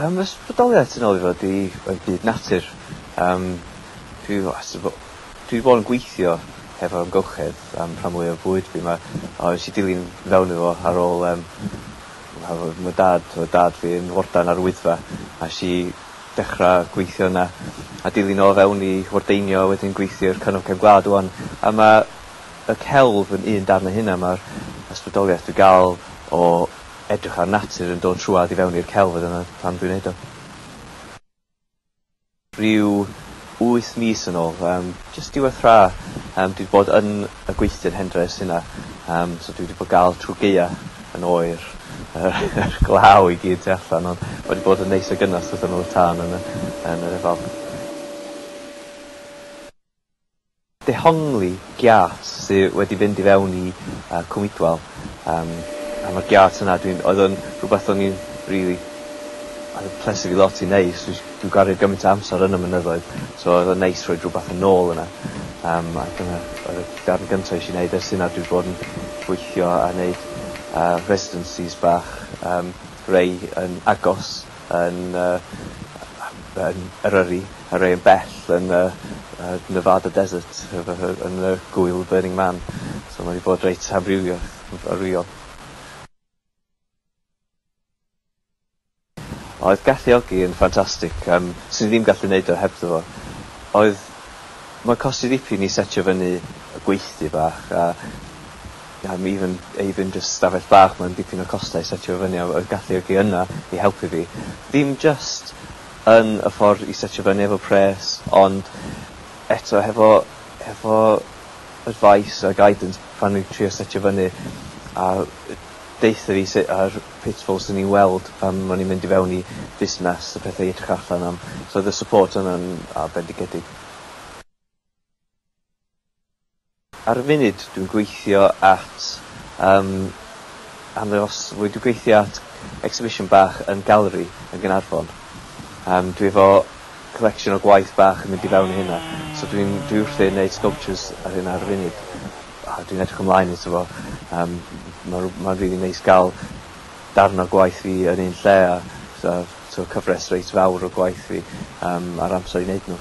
Yym fy sbardoliath tu nol i fo 'di yy byd natur yym dwi wastad bo- dwi 'di bod yn gweithio hefo amgylchedd am rhan fwya o fywyd fi 'ma a nes i dilyn fewn iddo fo ar ôl yym Wel oedd ma' dad oedd dad fi yn warden ar y Wyddfa a esh i dechra gweithio yna a dilyn o fewn i wardeinio a wedyn gweithio i'r Cyngor Cefn Gwlad ŵan a ma' y celf yn un darn o hynna ma'r ysbrydolieth dwi ga'l o edrych ar natur yn dod trwadd i fewn i'r celf a dyna pam dwi'n neud o. Rhyw wyth mis yn ôl, yym jyst diwedd hra, yym dwi 'di bod yn y gweithdy yn Hendres yna, yym so dwi wedi bod gal trw gaea yn oer yr yr glaw i gyd tu allan ond ma' 'di bod yn neis a gynnes wrth ymyl y tân yn y yn yr efallt. Dehongli giât sy wedi fynd i fewn i cwmidwal yym a ma'r giât yna dwi'n oedd o'n rwbeth o'n i'n rili oedd yn plesu fi lot i neud 'chos dwi dwi'n gwario gymaint o amser yn y mynyddoedd so oedd o'n neis rhoid rwbath yn ôl yna yym a dyna oedd y darn gynta esh i neud ers hynna dwi bod yn gweithio a neud yy residencies bach yym rei yn agos yn y yy yn Eryri a rei yn bell yn y yy Nevada Desert efo hy- yn y gŵyl Burning Man. So ma' 'di bod reit amrywio yn amrywiol. Oedd galluogi yn ffantastig yym swn i ddim gallu neud o hebddo fo. Oedd... Mae'n costi dipyn i setio fyny y gweithdy bach a Mae fy even ei fy jyst stafell bach mae'n dipyn o costau i setio fo fyny a oedd galluogi yna i helpu fi. Dim jyst yn y ffordd i setio fyny efo pres ond eto hefo hefo advice a guidance pan o'n i'n trio setio fyny a deutha fi sut a'r pitfalls o'n i'n weld pan o'n i'n mynd i fewn i fusnes a pethau i edrych allan am so oedd y support yna'n a bendigedig. Ar y funud dwi'n gweithio at yym arddangos mwy, dwi'n gweithio at exhibition bach yn Gallery yn Gaernarfon. Yym dwi efo collection o gwaith bach yn mynd i fewn i hynna so dwi'n dwi wrthi'n neud sculptures ar hynna ar y funud. A dwi'n edrych ymlaen ato fo yym ma' rw- ma'n rili neis ga'l darn o gwaith fi yn un lle a fatha t'o' cyfres reit fawr o gwaith fi yym a'r amser i neud n'w.